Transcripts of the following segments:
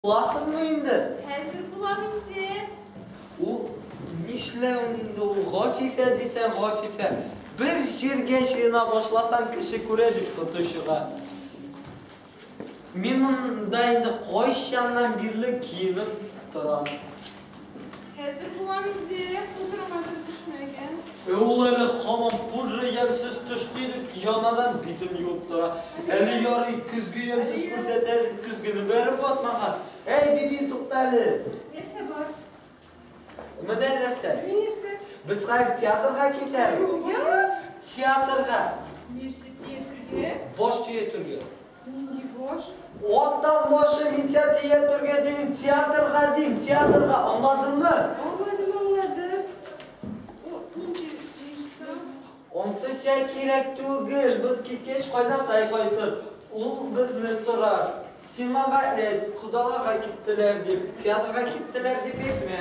Буласыңмы инде? Хәзер булам инде. Ул нишләвен инде ул, Гафифә дисәң Гафифә. Бер җиргә җыена башласаң, кеше күрә бит коточыга. Мин монда инде кайчаннан бирле киенеп торам. Хәзер булам инде, хозурыңа да төшмәгән. Ә ул әле һаман пудры ямьсез төш киенеп, янадан битен юып тора. Әле ярый, көзге ямьсез күрсәтә, көзгене бәреп ватмаган. Әй, Биби, тукта әле! Нәрсә бар? Менә нәрсә. Менә нәрсә. Без хәзер театрга китәбез. Нигә? Театрга. Нәрсә театрга? Баш төятергә. Нинди баш? Аттан башы Минсә тия түргә дим, театрга дим, театрга, аңладыңмы? Аңладым, аңладым. Ут нинди җыйшса? Онсы сә кирәк түгел, без киткәч кайнатай кайтыр, ул безне сорар. Син маңа әйт, кодаларга киттеләр дип, театрга киттеләр дип әйтмә.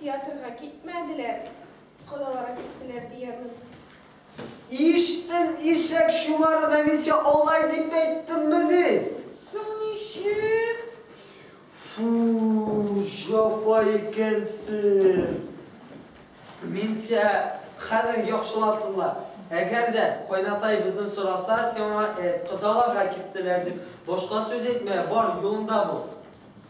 Театрга китмәделәр, калаларга киттеләр, диябез. Иштен, ишәк чумары да мин сиңа алай дип әйттеммени? Соң ничек? Фу, җафа икәнсең. Мин сиңа хәзер яхшылап тыңла. Әгәр дә кайнатай безне сораса, син аңа әйт, кодаларга киттеләр дип, башка сүз әйтмә, бар, юлыңда бул.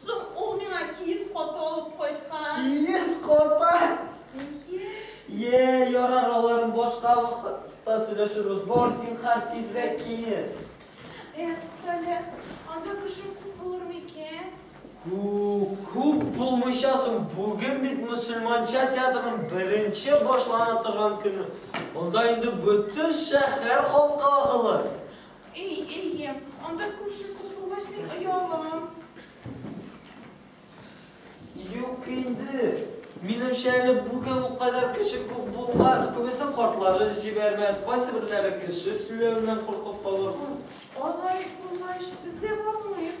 Соң ул миңа киез каты алып кайткан. Киез каты? Әйе. Йә, ярар, аларын башка вакытта сөйләшербез. Бар, зинһар, тизрәк киен. Эх, Фәлә, анда кеше күп булыр микән? Күп, күп булмыйча соң, бүген бит мөселманча театрының беренче башлана торган көне. Анда инде бөтен шәһәр халкы агылыр. Әй, әйе, анда күрше күп булгач, мин оялам. Юк инде. Минемчә әле бүген бу кадәр кеше күп булмас. Күбесе картлары җибәрмәс, кайсы берләре кеше сөйләвеннән куркып калыр. Алай булгач, без дә бармыйк.